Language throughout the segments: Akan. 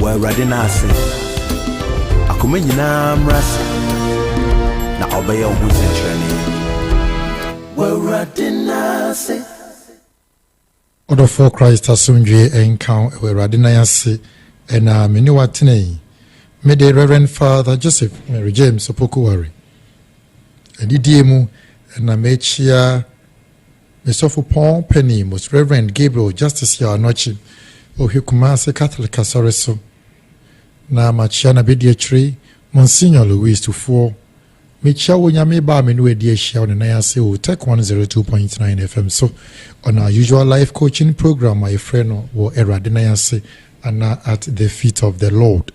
Wɔ Awurade nan ase. Akoma nyinaa mmra ase, na ɔbɛyɛ wo ho nsɛnkyerɛnne. Wɔ Awurade nan ase. Ɔdɔfoɔ Christ asomdwoeɛ nka wo wɔ Awurade nan ase na me ne wo atena yi. Me de Rev. Father Joseph Mary James Opoku Ware adidie mu na merekyea Mesɔfopɔn Panin, Most Reverend Gabriel Justice Yaw Anokye, Ohwɛ Kumasi Catholic Asɔre so, na makyia n'abadiakyiri, Monsignor Louis Tufuo. Mekyia wo Onyame ba a me ne wo adi ahyia wɔ ne nan ase wɔ Utech 102.9 FM so, on our usual life coaching program a yɛfrɛ no Wɔ Awurade Nan Ase anaa At the Feet of the Lord.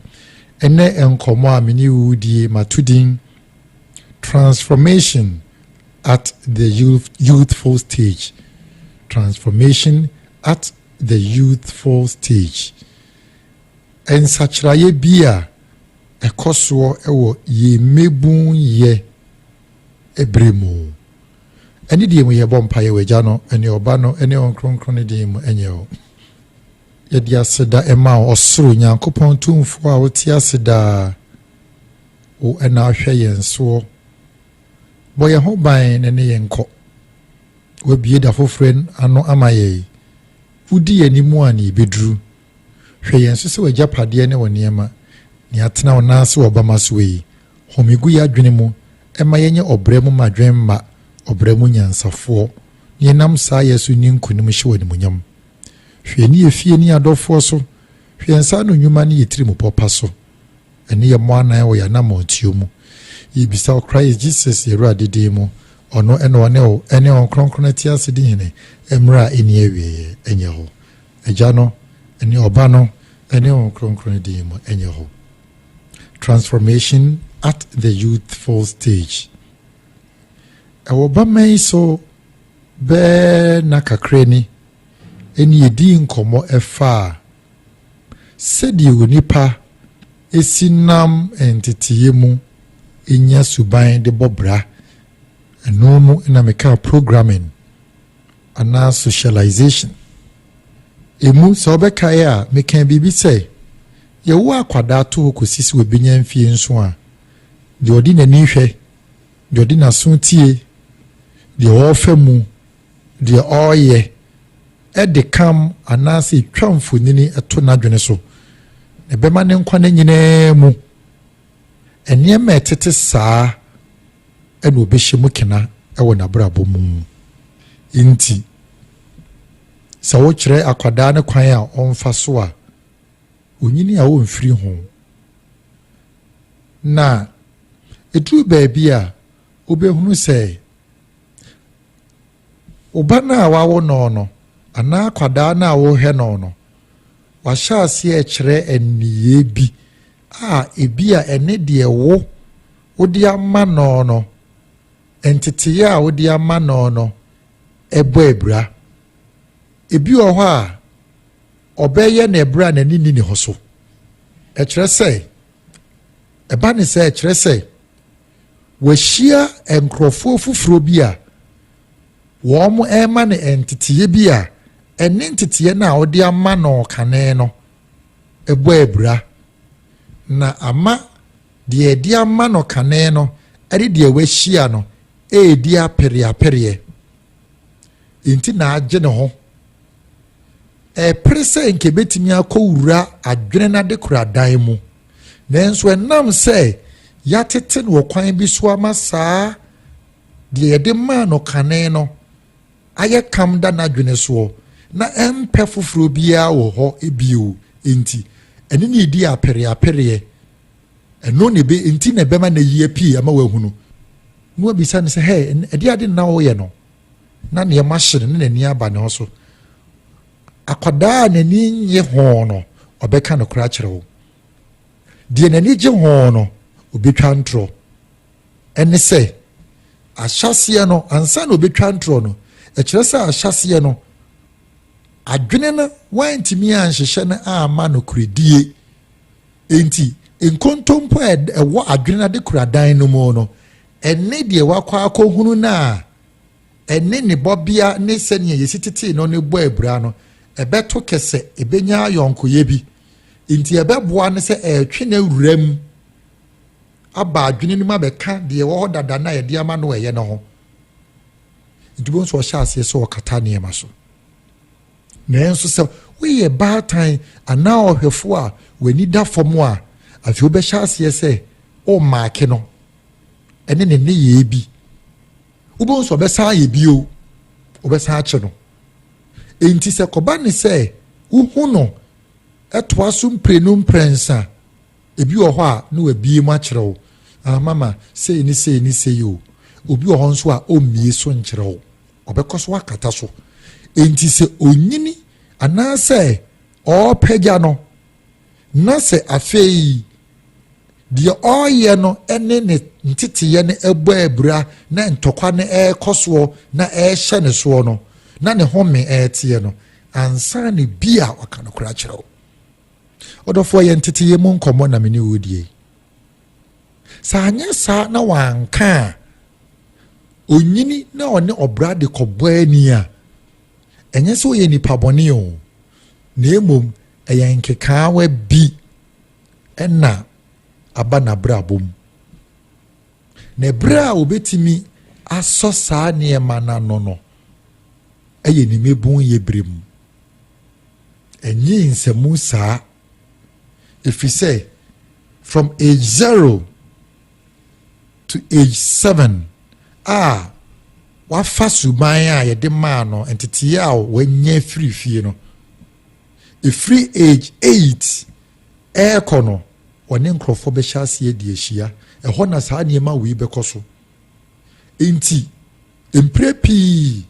Ɛnnɛ nkɔmmɔ a me ne wo redie, mato din Transformation At the Youthful Stage, Transformation at the Youthful Stage, Nsakyeraeɛ bi a ɛkɔ soɔ wɔ yɛn mmabunyɛ berɛ mu. Ɛne deɛ mu yɛbɔ mpaeɛ wɔ Agya no ne Ɔba no ne Wɔn Kronkron no din mu nyɛ o. Yɛde aseda ma wo, Ɔsoro Nyankopɔn Tumfoɔ a wote ase daa, wo na ahwɛ yɛn soɔ, Bɔ yɛn ho ban na ne yɛn nkɔ. Woabue da foforo ano ama yɛn. Wudi yɛn anim a na yebeduru. Hwɛ yɛn so sɛ w'agyapadeɛ ne wo nneɛma, nea atena wo nan ase wɔ bamma so yi. Home gu y'adwene mu, mma yɛnyɛ ɔbrɛ mu mmadwemma, ɔbrɛ mu nyansafoɔ, na yɛnam saa yɛ so nni nkonim hyɛ wo animuonyam. Hwɛ yɛn ne yɛ fie ne yɛn adɔfoɔ so, hwɛ yɛn nsa ano nnwuma ne yɛ tirimupɔ pa so. Ɛne yɛ mmɔ anan wɔ yɛ anamɔntuo mu. Yɛ bisa ɔkra yɛ Jesus yɛ Awurade din mu, ɔno ɛna ɔne o ɛne Hon Kronkron ɛte ase di hene ɛmmerɛ a ɛnni awieɛ, ɛnyɛ hɔ. Agya no, ɛne Ɔba no, ɛne Hon Kronkron din mu, ɛnyɛ hɔ. Transformation at the youthful stage. Ɛwɔ ba mɛ yi so bɛɛ na kakra ni, ɛne yɛ dii nkɔmmɔ ɛfaa, Sɛdeɛ onipa si nam nteteeɛ mu nya suban de bɔ bra, ɛno mu na mekaa programming anaa socialization. Ɛmu, sɛ wobɛkaeɛ a, mekaa biribi sɛ, yɛwo akwadaa to hɔ kɔsi sɛ wɔbɛnya mfie nso a, deɛ ɔde n'ani hwɛ, deɛ ɔde n'aso tie, deɛ ɔrefa mu, deɛ ɔreyɛ de kam anaasɛ twa mfonini to n'adwene so, na ɛbɛma ne nkwa nna nyinaa mu nneɛma a ɛtete saa na ɔbɛhyɛ mu kena wɔ n'abrabɔ mu. Nti, sɛ wokyerɛ akwadaa no kwan a ɔmfa so a, onyini a ɔmfiri ho. Na ɛduru baabi a wobɛhunu sɛ Wo ba no a woawo no no anaa akwadaa no a worehwɛ no no, wahyɛ aseɛ rekyerɛ nneyɛɛ bi a ebia ɛne deɛ wo wode ama no no nteteeɛ a wode ama no no bɔ abira. Ebi wɔ hɔ a, ɔbɛyɛ no ɛberɛ a n'ani nni ne ho so. Ɛkyerɛ sɛ, ɛba ne sɛ ɛkyerɛ sɛ, Wahyia nkurɔfoɔ foforɔ bi a wɔrema no nteteeɛ bi a ɛne nteteeɛ no a wɔde ama no kane no bɔ abira, na ama deɛ wɔde ama no kane no de deɛ wahyia no redi apereapereɛ. Enti na agye ne ho. Ɛrepere sɛ nka ebetumi akɔwura adwene no adekoradan mu, nanso ɛnam sɛ yɛatete no wɔ kwan bi so ama saa deɛ yɛde maa no kane no ayɛ kam da n'adwene soɔ na ɛmpɛ foforɔ biara wɔ hɔ bio nti, ɛne no redi apereapereɛ. Ɛno na ebe, nti na ɛbɛma no ayia pii ama wahunu, na wabisa no sɛ, Hɛ, ɛdeɛn ade na woyɛ no? Na nneɛma hye no, na n'ani aba ne ho so. Akwadaa a n'ani nnye ho no, ɔbɛka nokorɛ akyerɛ wo. Deɛ n'ani gye ho no, ɔbɛtwa ntorɔ. Ɛne sɛ, ahyɛaseɛ no, ansa na ɔbɛtwa ntorɔ no, ɛkyerɛ sɛ ahyɛaseɛ no, adwene no, wantumi anhyehyɛ no amma nokorɛdie. Enti, nkontompo a ɛwɔ adwene adekoradan no mu no, ɛne deɛ wakɔ akɔhunu no a ɛne ne bɔbea ne sɛnea yɛsi tetee no no bɔ abira no, ɛbɛto kɛsɛ, ɛbɛnya ayɔnkoyɛ bi. Enti, ɛbɛboa no sɛ ɛretwe n'awuram aba adwene no mu abɛka deɛ ɛwɔ hɔ dada no a yɛde ama no ɛyɛ no ho. Nti, wobɛhu sɛ ɔhyɛ aseɛ sɛ ɔkata nneɛma so. Nanso sɛ woyɛ baatan anaa ɔhwɛfo a w'ani da fam a, afei wobɛhyɛ aseɛ sɛ woremaake no ne ne nneyɛɛ bi. Wobɛhu sɛ ɔbɛsan ayɛ bio, wobɛsan akye no. Enti sɛ kɔba ne sɛ wohu no ɛtoa so mprenu mprɛnsa ebi wɔ hɔ a na wabie mu akyerɛ wo ah mama sei ne sei ne sei o obi wɔ hɔ nso a ɔmmie so nkyerɛ wo Ɔbɛkɔ so akata so. Enti sɛ onyini anaasɛ ɔrepagya no, na sɛ afei deɛ ɔreyɛ no ne ne nteteeɛ no bɔ abira na ntɔkwa no rekɔ soɔ na ɛrehyɛ ne soɔ no, na ne home reteɛ no, ansa na bi a waka nokorɛ akyerɛ wo. Ɔdɔfoɔ, yɛ nteteeɛ mu nkɔmmɔ na me ne wo redie yi. Sɛ anyɛ saa na wanka a, onyini na ɔne ɔbra de kɔbɔ ani a, ɛnyɛ sɛ ɔyɛ nipa bɔne o, na mmom ɛyɛ nkekaawa bi ɛna aba n'abrabɔ mu. Na ɛberɛ a wɔbɛtumi asɔ saa nneɛma no ano no ɛyɛ ne mmabun yɛ berɛ mu. Ɛnyɛ nsamu saa efisɛ from age zero to age seven a wafa suban a yɛde maa no ntetee a wanya firi fie no efiri age eight ɛrekɔ no wɔne nkurɔfoɔ bɛhyɛ aseɛ de ahyia ɛhɔ na saa nneɛma wei bɛkɔ so nti mpire pii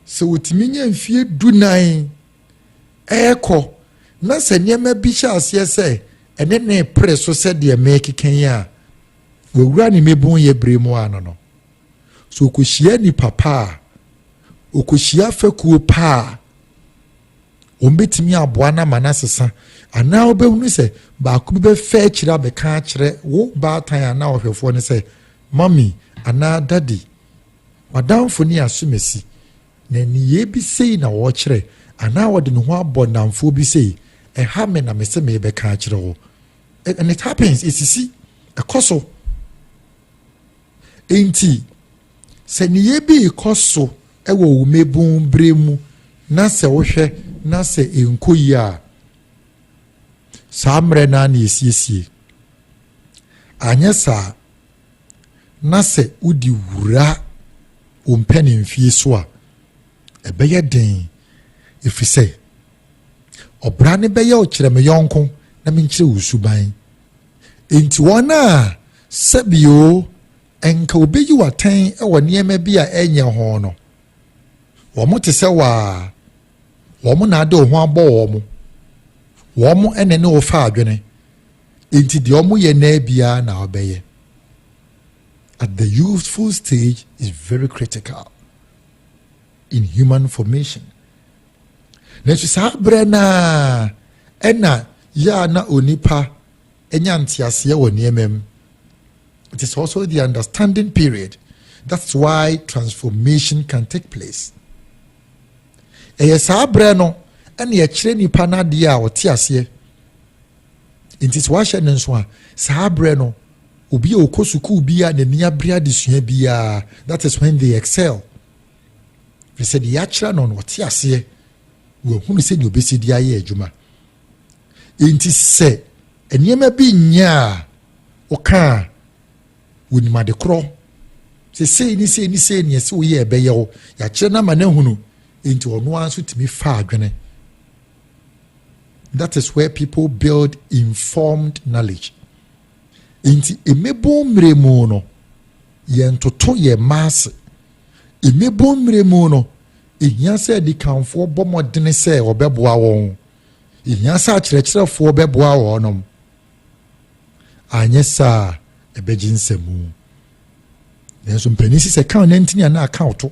sɛ wotumi nya mfie du nan rekɔ, na sɛ nneɛma bi hyɛ aseɛ sɛ ɛne ne pere so sɛdeɛ merekeka yi a, wɔwura ne mmebonyɛ bere mu ano no. So ɔkɔhyia nipa pa a, ɔkɔhyia fɛkuo pa a, wɔbɛtumi aboa no ama no asesa anaa wobɛhunu sɛ baako bi bɛfɛ akyiri abɛka akyerɛ wo baatan anaa ɔhwɛfoɔ no sɛ mami anaa dadi madamfo ne asomasi Na nneyɛɛ bi sei na ɔrekyerɛ, anaa ɔde ne ho abɔ nnamfoɔ bi sei, Ɛha me na mese merebɛka akyerɛ wo. And it happens, ɛsisi, ɛkɔ so. Enti, sɛ nneyɛɛ bi rekɔ so wɔ wo mmabun berɛ mu na sɛ wohwɛ na sɛ ɛnkɔ yie a, saa mmerɛ no ara na ɛsiesie. Anyɛ saa na sɛ wode wura wo mpanin fie so a, ɛbɛyɛ den, ɛfiri sɛ ɔbra no bɛyɛ wo kyerɛ me yɔnko na menkyerɛ wo suban. Enti wɔn a sɛbio nka wobɛyi w'atɛn wɔ nneɛma bi a ɛnyɛ ho no, wɔn te sɛ waa, wɔn na ade wo ho abɔ wɔn, wɔn na ne wo fa adwene. Enti deɛ wɔn yɛ naa biara na wɔbɛyɛ. At the youthful stage is very critical in human formation. Nanso saa berɛ no a ɛna yɛ a na onipa anya nteaseɛ wɔ nneɛma mu. It is also the understanding period. That's why transformation can take place. Ɛyɛ saa berɛ no ɛna ɛkyerɛ nipa n'adeɛ a ɔte aseɛ. Enti sɛ wahyɛ no nso a, saa berɛ no, obi a ɔkɔ sukuu bi a n'ani abere adesua biara, that is when they excel. Firi sɛ deɛ yɛakyerɛ no no, ɔte aseɛ na wahunu sɛdeɛ ɔbɛsi de ayɛ adwuma. Enti sɛ nneɛma bi nyɛ a woka a wɔnim ade korɔ sɛ sei ne sei ne sei neɛ sɛ woyɛ ɛbɛyɛ wo yɛakyerɛ no ama no ahunu enti ɔno ara nso tumi fa adwene That is where people build informed knowledge. Nti mmebo mmerɛ mu no yɛntoto yɛn mma ase. Mmebo mmerɛ mu no ɛhia sɛ adikanfoɔ bɔ mmɔdene sɛ wɔbɛboa wɔn. Ɛhia sɛ akyerɛkyerɛfoɔ bɛboa wɔnom. Anyɛ saa ɛbɛgye nsɛmu. Nanso mpanin si sɛ kan no ntini a na aka ɔto.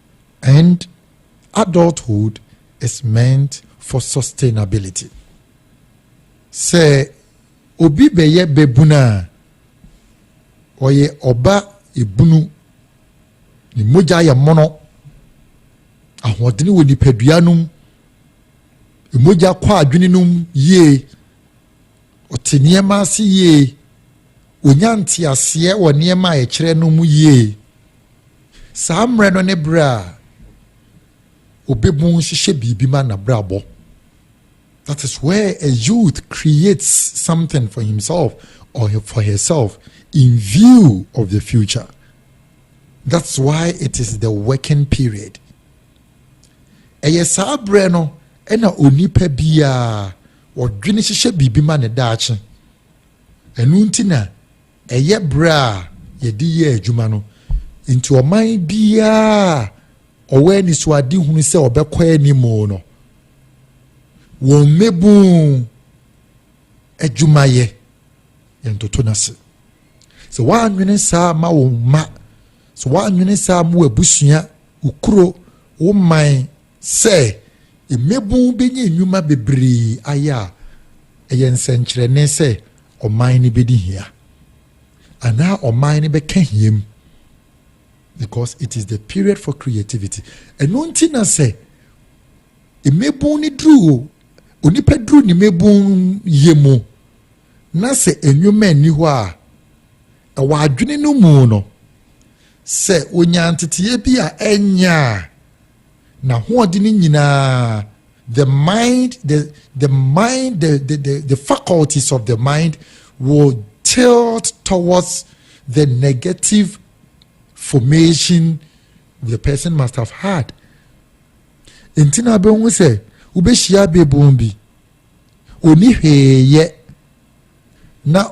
And adulthood is meant for sustainability. Sɛ obi bɛyɛ babunu a, ɔyɛ ɔba ebunu, ne mogya yɛ mono, ahoɔdene wɔ nipadua no mu, mogya kɔ adwene no mu yie, Ɔte nneɛma ase yie. Ɔnya nteaseɛ wɔ nneɛma a ɛkyerɛ no mu yie. Saa mmerɛ no ne berɛ a ɔbɛbu nhyehyɛ biribi ma n'abrabɔ. That is where a youth creates something for himself or for herself in view of the future. That's why it is the working period. Ɛyɛ saa berɛ no ɛna onipa biara Wɔdwene hyehyɛ biribi ma ne daakye. Ɛno nti na ɛyɛ berɛ a yɛde yɛ adwuma no. Nti ɔman biara a ɔwɔ anisoadehunu sɛ ɔbɛkɔ anim no, wɔmmɛbu adwumayɛ. Yɛntoto no ase. Sɛ woanwene saa ma wo mma, sɛ woanwene saa ma w'abusua, wo kuro, wo man, Sɛ mmabun benya nnwuma bebree ayɛ a, ɛyɛ nsɛnkyerɛnne sɛ ɔman no bedi hia anaa ɔman no bɛka hiam because it is the period for creativity. Ɛno nti na sɛ mmabun no duru onipa duru ne mmabun yɛ mu na sɛ nnwuma nni hɔ a ɛwɔ adwene no mu no sɛ onya nteteeɛ bi a ɛnyɛ a na hoɔden no nyinaa the mind the the mind the the the, the faculties of the mind will tilt towards the negative formation the person must have had nti na abɛhu sɛ wobɛhyia bebon bi oni hwee yɛ na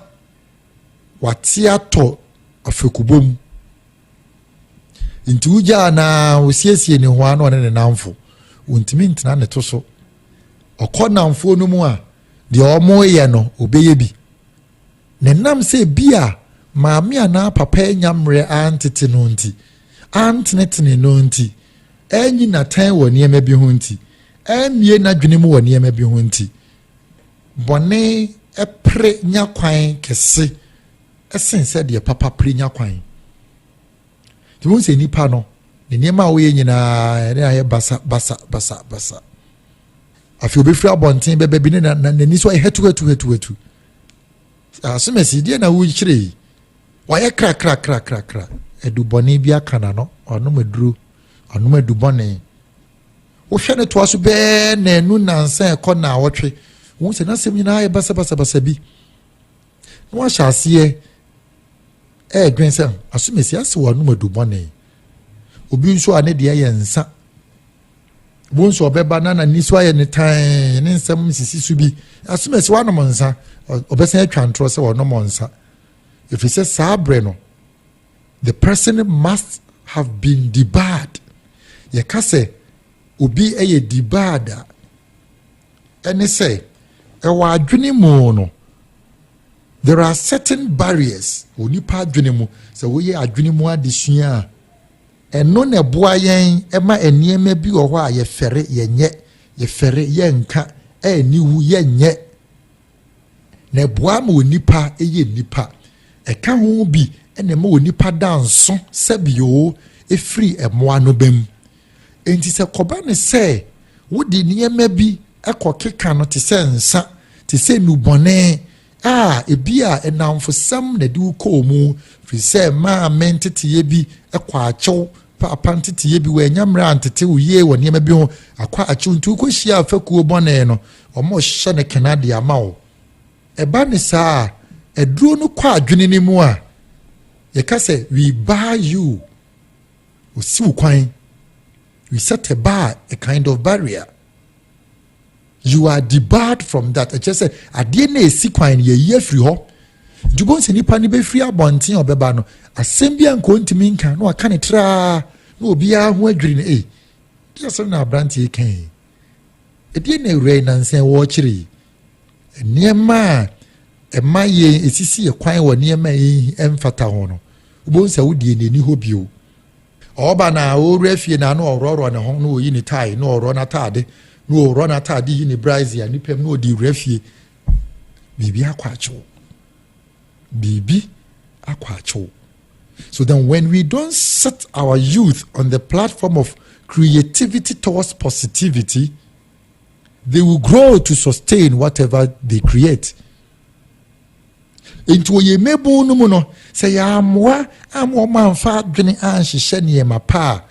wate atɔ afekubɔ mu Nti wogyaa no ara, wosiesie ne hɔ ara na ɔne ne namfo. Ontumi ntena ne to so. Ɔkɔ namfoɔ no mu a, deɛ wɔyɛ no, ɔbɛyɛ bi. Ne nam sɛ bi a maame anaa papa anya mmerɛ antete no nti, antenetene no nti, anyi n'atɛn wɔ nneɛma bi ho nti, ammie n'adwene mu wɔ nneɛma bi ho nti, bɔne pere nya kwan kɛse sen sɛ deɛ papa pere nya kwan. Nti wohu sɛ nipa no, ne nneɛma a woyɛ nyinaa ɛne ayɛ basa basa basa basa. Afei obɛfiri abɔnten bɛbɛ bi ne n'ani so ayɛ hatu hatu hatu hatu. Asomasi deɛ na wokyerɛ yi, wayɛ krakrakrakrakra. Adubɔne bi aka na no, ɔnom aduro, ɔnom adubɔne. Wohwɛ ne toa so bɛɛ na ɛnu nansa ɛkɔ na awɔtwe. Wohu sɛ n'asɛm nyinaa ayɛ basa basa basa bi. na wahyɛ aseɛ ɛredwen sɛ asomasi ase wɔ anum adubɔne obi nso a ne deɛ yɛ nsa wo nso ɔbɛba na n'ani so ayɛ ne tan ne nsɛm sisi so bi asomasi wanom nsa ɔbɛsan atwa ntorɔ sɛ ɔnom nsa ɛfiri sɛ saa berɛ no the person must have been debarred yɛka sɛ obi yɛ debarred a ɛne sɛ wɔ adwene mu no there are certain barriers wɔ nipa adwene mu sɛ woyɛ adwene mu adesua a ɛno na ɛboa yɛn ɛma nneɛma bi wɔ hɔ a yɛfɛre yɛnyɛ yɛfɛre yɛnka ɛniwu yɛnyɛ na ɛboa ma onipa ɛyɛ nipa ɛka ho bi na ɛma onipa da nso sɛbio ɛfiri mmoa no bɛm Enti sɛ kɔba no sɛ wode nneɛma bi kɔkeka no te sɛ nsa, te sɛ nnubɔne a ebia nnamfosɛm na ɛde wo kɔɔ mu, firi sɛ maame nteteeɛ bi kɔ akyew, paapa nteteeɛ bi, wɔanya mmerɛ antete wo yie wɔ nneɛma bi ho, akɔ akyew, nti wokɔhyia afakuo bɔne no, wɔhyɛ no kena de ama wo. Ɛba ne saa a, aduro no kɔ adwene no mu a, yɛka sɛ we buy you. Osi wo kwan. You set a bar, a kind of barrier. You are debarred from that. Ɛkyerɛ sɛ adeɛ na esi kwan no yɛyi afiri hɔ. Nti bɔn sɛ nipa no bɛfiri abɔnten a ɔbɛba no, asɛm bi a nka ɔntumi nka na waka ne traa na obiara ho adwiri no. Ei, deɛ asɛm na aberanteɛ kan yi. Ɛdeɛ na awura yi nansa wɔrekyerɛ yi. nneɛma a ɛma yɛn esisi yɛ kwan wɔ nneɛma a ɛmfata ho no wobɛhu sɛ wo deɛ n'ani hɔ bio ɔba na ɔwura fie na ano ɔworɔworɔ ne ho na ɔyi ne tae na ɔworɔ n'ataade na ɔworɔ n'ataade yi ne braise a nipa mu na ɔde wura fie biribi akɔ akyew biribi akɔ akyew so then when we don't set our youth on the platform of creativity towards positivity They will grow to sustain whatever they create. Nti wɔyɛ mmabun no mu no sɛ yɛamoa ama wɔn amfa adwene anhyehyɛ nneɛma pa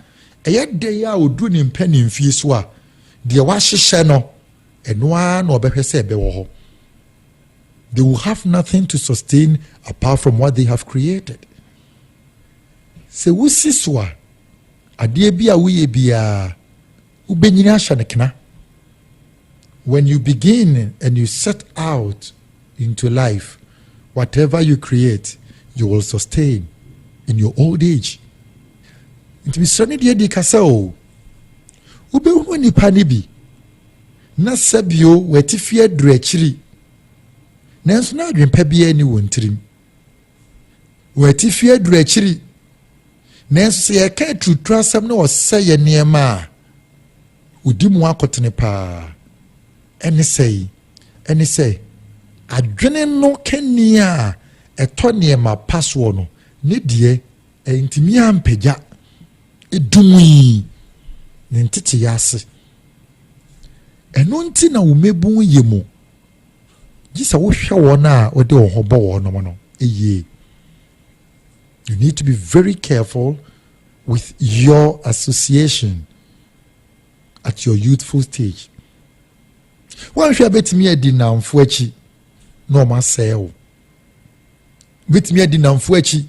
a ɛyɛ dɛ yi a ɔduru ne mpɛ ne mfie so a deɛ wahyehyɛ no ɛno ara na ɔbɛhwɛ sɛ ɛbɛwɔ hɔ. They will have nothing to sustain apart from what they have created. Sɛ wosi so a adeɛ bi a woyɛ biara Wobɛnyini ahyɛ no kena. When you begin and you set out into life, whatever you create, you will sustain in your old age. Nti mesrɛ no deɛ di ka sɛ o, wobɛhunu nnipa no bi na sɛbio wɔatifi aduru akyiri nanso na adwempa biara ni wɔn tirim. wɔ atifi aduru akyiri. Nanso sɛ yɛka aturuturu asɛm na ɔsɛ yɛ nneɛma a, ɔdi mu akotene paa. Ɛne sɛ yi, ɛne sɛ adwene no kani a ɛtɔ nneɛma pa soɔ no, ne deɛ ɛntumi ampagya edumui ne nteteyɛ ase. Ɛno nti na wɔmɛbu yɛ mu Gye sɛ wohwɛ wɔn a wode wɔn ho bɔ wɔn nom no yie. You need to be very careful with your association at your youthful stage. Wɔnhwɛ a bɛtumi adi nnamfo akyi na wɔn asɛe wo. Bɛtumi adi nnamfo akyi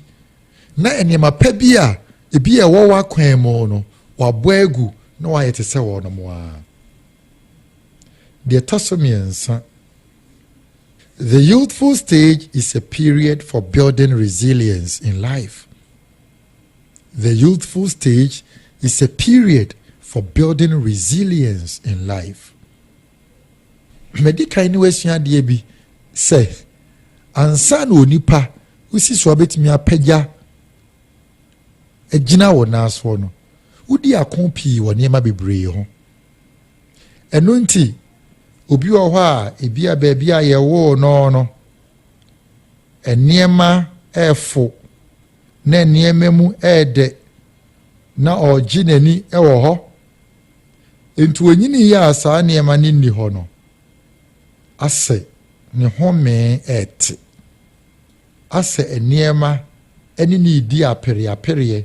na nneɛma pa bi a ebi a ɛwɔ w'akwan mu no wabɔ agu na wayɛ te sɛ wɔn mo ara. Deɛ ɛtɔ so mmiɛnsa, the youthful stage is a period for building resilience in life. The youthful stage is a period for building resilience in life. Medi kan ne wasua adeɛ bi sɛ ansa na onipa wosi so abɛtumi apagya agyina wɔ nan soɔ no, wodi ako pii wɔ nneɛma bebree ho. Ɛno nti, obi wɔ hɔ a ebia baabi a yɛwoo no no, nneɛma ɛrefo na nneɛma mu ɛredɛ na ɔregye n'ani wɔ hɔ. Nti onyini yɛ a saa nneɛma no nni hɔ no, asɛ ne homee ɛrete, asɛ nneɛma ne ne redi apereapereɛ.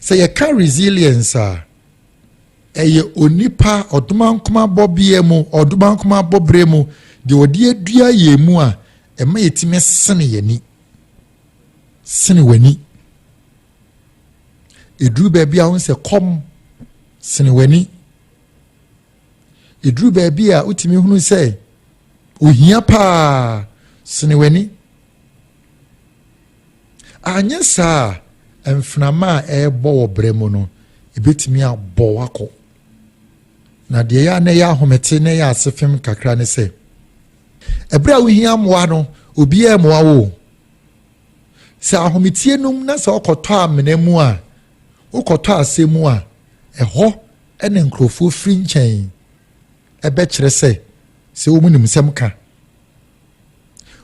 Sɛ yɛka resilience a, ɛyɛ onipa ɔdomankomabɔ bea mu, ɔdomankomabɔ bere mu, deɛ ɔde adua yɛn mu a, ɛma yɛtumi sene yɛn ani. Sene w'ani. Ɛduru baabi a wohu sɛ kɔm sene w'ani. Ɛduru baabi a wotumi hunu sɛ ohia paa sene w'ani. Anyɛ saa a, mframa a ɛrebɔ wɔ brɛ mu no, ebetumi abɔ wakɔ. Na deɛ ɛyɛ a na ɛyɛ ahomete na ɛyɛ asefem kakra ne sɛ, ɛberɛ a wohia mmoa no, obiara mmoa wo. Sɛ ahometie nom na sɛ ɔkɔtɔ amena mu a, wokɔtɔ asɛ mu a, ɛhɔ na nkurɔfoɔ firi nkyɛn ɛbɛkyerɛ sɛ sɛ wɔn nim nsɛm ka.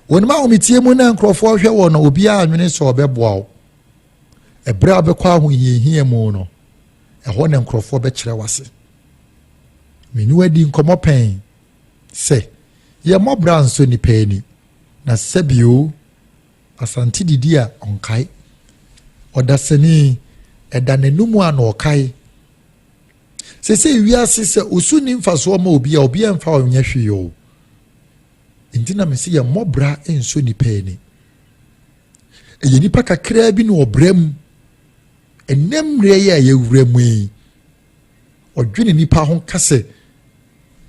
Wɔnim ahometeɛ mu na nkurɔfoɔ hwɛ wɔn na obiara anwene sɛ ɔbɛboa wo. Ɛberɛ a wobɛkɔ ahohiahia mu no, ɛhɔ na nkurɔfoɔ bɛkyerɛ w'ase. Me ne wadi nkɔmmɔ pɛn sɛ yɛ mmɔbra nso nnipa ani na sɛbio Asante didi a ɔnkae. Ɔdasani ɛda n'anum a na ɔkae. Sɛ sɛ wiase sɛ osu ni mfasoɔ ma obi a obi ɛmfa ɔnyɛ hwee o. Enti na mese yɛmmɔ bra nso nnipa ani. Ɛyɛ nnipa kakraa bi na ɔbra mu. Ɛnɛ mmerɛ yi a yɛwura mu yi, ɔdwene nnipa ho ka sɛ,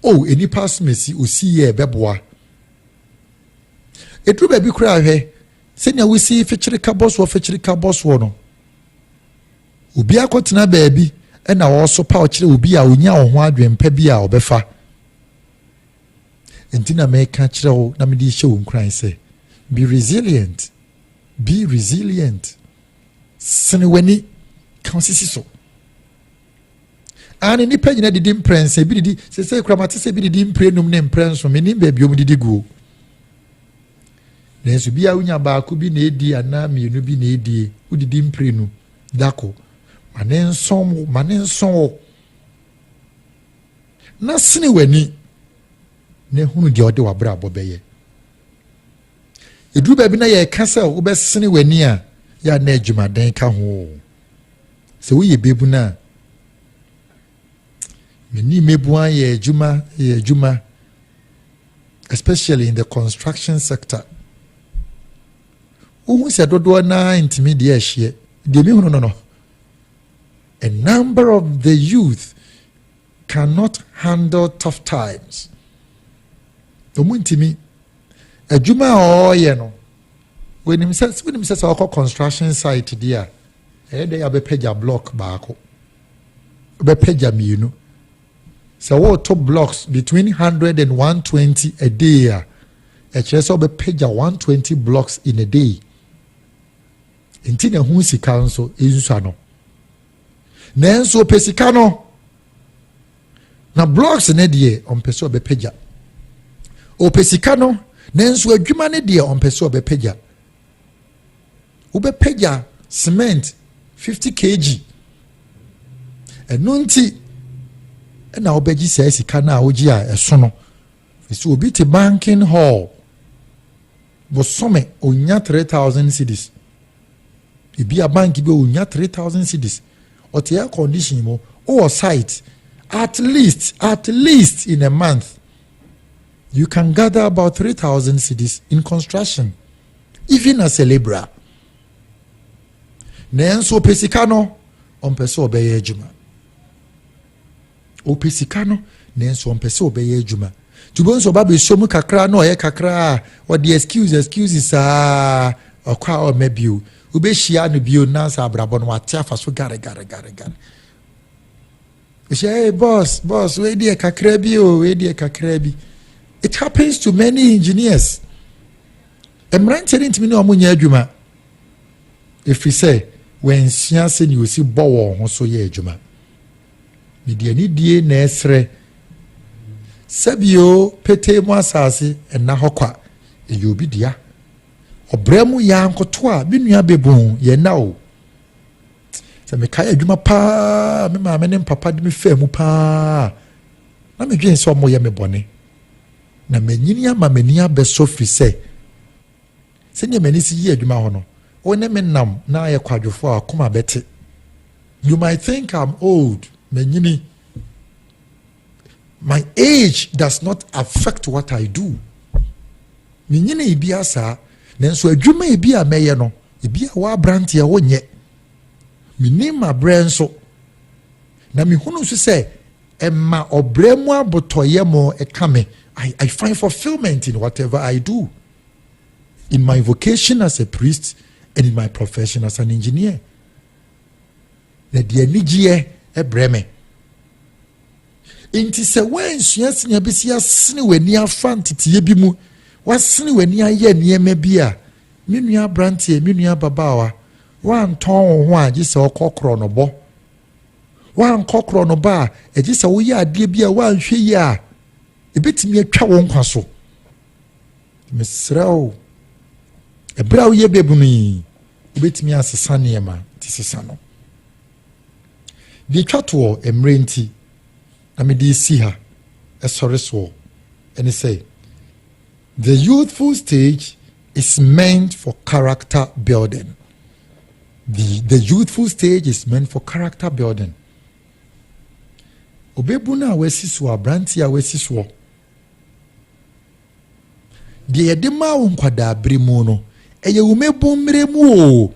o oh, nnipa asomasi osi yɛ ɛbɛboa. Ɛduru baabi koraa hwɛ, sɛnea wosi fekyere ka bɔ soɔ fekyere ka bɔ soɔ no, obi akɔtena baabi ɛna ɔresopa ɔkyerɛ obi a ɔnya ɔho adwempa bi a ɔbɛfa. Enti na meka kyerɛ wo na mede rehyɛ wo nkuran sɛ, Be resilient, be resilient. Sene w'ani, ka wo sisi so. Aane, nnipa nyina didi mprɛnsa, ebi didi, sese kura mate sɛ ebi didi mprɛnum ne mprɛnson, menim baabi ɔmo didi guo. Nanso bi a wonya baako bi na edi anaa mmienu bi na edie, wodidi mprɛnu, dako. Ma ne nson wo, ma ne nson wo. na sene w'ani na hunu deɛ ɔde w'abrabɔ bɛyɛ ɛduru baabi na yɛreka sɛ wobɛsene w'ani a yɛ a na adwumaden ka ho sɛ woyɛ bɛbu no a mani mmɛbua yɛ adwuma yɛ adwuma especially in the construction sector wohu sɛ dodoɔ naa ntumi deɛ ahyeɛ deɛ mehunu no no A number of the youth cannot handle tough times. Wɔn ntumi. Adwuma a ɔreyɛ no, wɔnim sɛ wɔnim sɛ sɛ ɔkɔ construction site di a, ɛyɛ dɛ abɛpɛgya block baako, ɔbɛpɛgya mmienu. Sɛ wɔreto blocks between hundred and one twenty a day a, ɛkyerɛ sɛ ɔbɛpɛgya one twenty blocks in a day. Nti na ɛho sika nso nsua no. Nanso ɔpɛ sika no. Na blocks ne deɛ ɔmpɛ sɛ ɔbɛpagya. Ɔpɛ sika no nanso adwuma ne deɛ ɔmpɛ sɛ ɔbɛpagya. Wobɛpagya cement 50 kg. Ɛno nti ɛna wobɛgye saa sika no a wogye a ɛso no. Ɛsɛ obi te banking hall. Bosome onya three thousand cedis. Ebi a bank bi onya three thousand cedis. Ɔte air condition mu. Owɔ site. At least, at least in a month, you can gather about three thousand cedis in construction, even as a labourer. Nanso ɔpɛ sika no, ɔmpɛ sɛ ɔbɛyɛ adwuma. Ɔpɛ sika no nanso ɔmpɛ sɛ ɔbɛyɛ adwuma. Nti wobɛhu sɛ ɔba bɛsɔ mu kakra na ɔyɛ kakra a ɔde excuse excuse saa ɔkɔ a ɔmma bio. Wobɛhyia no bio nansa abrabɔ no wate afa so gare gare gare gare. Ɔhyɛ hey boss boss wei deɛ kakra bi o wei deɛ kakra bi. It happens to many engineers. Mmeranteɛ no ntumi ne ɔmo nyɛ adwuma. Ɛfiri sɛ wɔansua sɛdeɛ ɔsi bɔ wɔn ho so yɛ adwuma. Mede anidie na ɛresrɛ sɛ bio petee mu asase nna hɔ kwa, ɛyɛ obi dea. Ɔbrɛ mu yɛ ankoto a me nua bɛbon yɛ nna o. Sɛ mekae adwuma paa a me maame ne mpapa de me faa mu paa a, na medwen sɛ ɔmo yɛ me bɔne. Na manyini ama m'ani abɛsɔ firi sɛ Sɛnea m'ani si yɛ adwuma hɔ no, wo ne me nam na ayɛ kwadwofo a w'akoma bɛte. You might think I'm old, manyini. My age does not affect what I do. Menyini ebi asaa, nanso adwuma ebi a mɛyɛ no, ebi a w'abranteɛ wonyɛ. Menim mabrɛ nso, na mehunu nso sɛ ɛma ɔbrɛ mu abotɔyɛ mo ɛka me. I, I find fulfillment in whatever I do. in my vocation as a priest and in my profession as an engineer na deɛ anigyeɛ ɛbrɛ me nti sɛ woansua sini abɛsi asene w'ani afa nteteɛ bi mu woasene w'ani ayɛ nneɛma bi a me nua aberanteɛ me nua ababaawa woantɔn wo ho a gye sɛ ɔkɔ korɔ no bɔ woankɔ korɔ no ba a ɛgye sɛ woyɛ adeɛ bi a woanhwɛ yi a ɛbɛtumi atwa wo nkwa so Mesrɛ wo, ɛberɛ a woyɛ bɛbunu yi, wobɛtumi asesa nneɛma nti sesa no. Deɛ ɛtwa toɔ mmerɛ nti na mede si ha ɛsɔre soɔ ɛne sɛ the youthful stage is meant for character building. The, the youthful stage is meant for character building. Obɛbunu a wasi soɔ, aberanteɛ a wasi soɔ, Deɛ yɛde maa wo nkwadaaberɛ mu no, ɛyɛ wo mmabu mmerɛ mu o,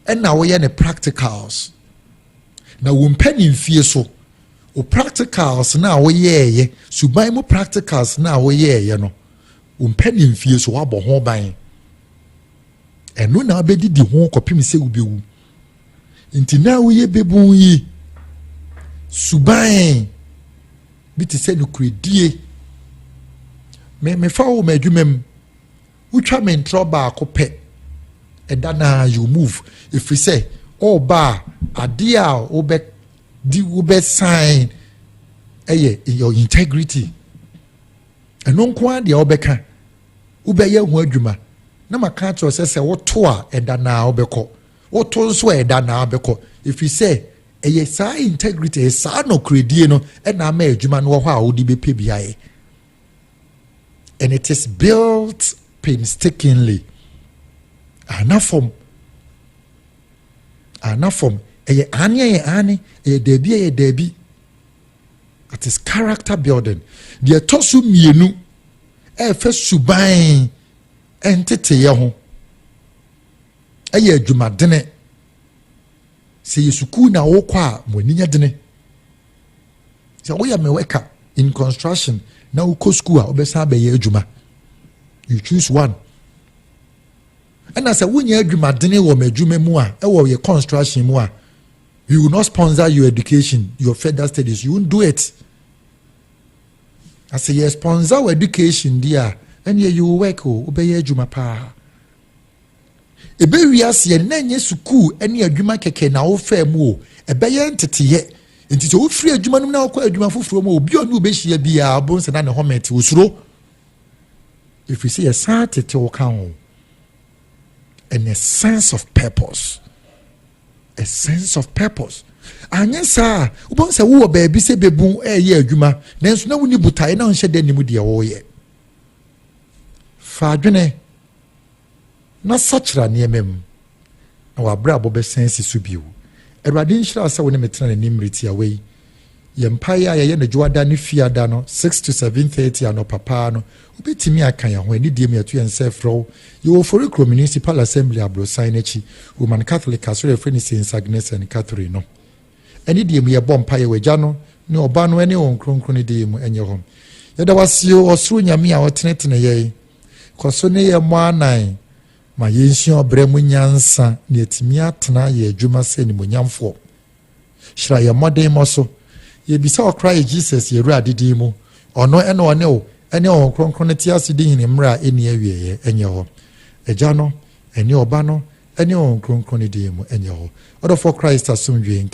ɛna woyɛ ne practicals. Na wo mpɛ ne mfie so, wo practicals no a woyɛɛyɛ, suban mu practicals no a woyɛɛyɛ no, wo mpɛ ne mfie so, woabɔ ho ban. Ɛno na wobɛdidi ho kɔpem sɛ wobɛwu. Nti na woyɛ bebun yi suban bi te sɛ nokoredie. Me mefa wo m'adwuma mu. Wotwa me ntorɔ baako pɛ. Ɛda naa you move. Ɛfiri sɛ ɔɔba a adeɛ a wobɛ di wobɛ sign ɛyɛ your integrity. Ɛno nko ara deɛ wobɛka wobɛyɛ ho adwuma na maka akyerɛ sɛ sɛ woto a ɛda naa wobɛkɔ. Woto nso a, ɛda no ara bɛkɔ, ɛfiri sɛ ɛyɛ saa integrity, ɛyɛ saa nɔkorɛdie no ɛna ama adwuma no wɔ hɔ a wode bɛpɛ bi ayɛ. And it is built painstakingly. Anafam. Anafam. Ɛyɛ ane ɛyɛ ane, ɛyɛ daabi ɛyɛ daabi. It is character building. Deɛ ɛtɔ so mmienu ɛfɛ suban nteteyɛ ho. Ɛyɛ adwumadene. Sɛ ɛyɛ sukuu na wokɔ a, mo ani nyɛ dene. Sɛ woyɛ mewɛka in construction na wokɔ sukuu a wobɛsan abɛyɛ adwuma. You choose one. Ɛna sɛ wonyɛ adwumadene wɔ m'adwuma mu a, ɛwɔ yɛ construction mu a, we will not sponsor your education, your further studies. You won't do it. I say, yes, sponsor your education, dear. And yeah, you will work, oh, obey your juma pa. Ɛbɛ wiase ɛnnɛ ɛnyɛ sukuu ne adwuma kɛkɛ na wofaa mu o, ɛbɛyɛ nteteyɛ. Nti sɛ wofiri adwuma no mu na wokɔ adwuma foforɔ mu obi a ɔne wobɛhyia biara wobɛhu sɛ na ne hɔmɛte osuro. Ɛfiri sɛ yɛsan tete wo ka ho. And a sense of purpose. A sense of purpose. anyɛ saa wobɛhu sɛ wowɔ baabi sɛ bɛbu ɛyɛ adwuma nanso na wonni botaeɛ na wonhyɛ dɛ nim deɛ wɔyɛ fa adwene na sakyera nneɛma mu, na w'abrabɔ bɛsan asi so bio. Awurade nhyira sɛ wo ne me tena n'anim mmere tiawa yi. Yɛn mpaeɛ a yɛyɛ no dwoada ne fiada no, 6 to 7:30 anɔpa paa no, wobɛtumi aka yɛn ho. Anidie mu yɛto yɛn nsa ɛfrɛ wo. Yɛwɔ Ofori Kuro Municipal Assembly aborosan no akyi, Roman Catholic asɔre a ɛfrɛ no Saints Agnes and Catherine no. Anidie mu yɛbɔ mpaeɛ wɔ Agya no ne Ɔba no ne Wɔn Kronkron no din mu. Ɛnyɛ hɔ. Yɛda wo ase o, Ɔsoro Nyame a ɔteneteneyɛe. Kɔ so ne yɛn mmɔ anan ma yensua ɔbrɛ mu nyansa na yɛatumi atena yɛn adwuma sɛ animuonyamfoɔ. Hyira yɛn mmɔdemmɔ so. Yɛbisa ɔkra yi Jesus yɛn Awurade din mu. Ɔno na ɔne wo ne Honhom Kronkron no te ase di hene mmerɛ a ɛnni awieɛ ɛnyɛ hɔ. Agya no, ɛne Ɔba no, ɛne Honhom Kronkron no din mu ɛnyɛ hɔ. Ɔdɔfoɔ Christ asomdwoeɛ nka.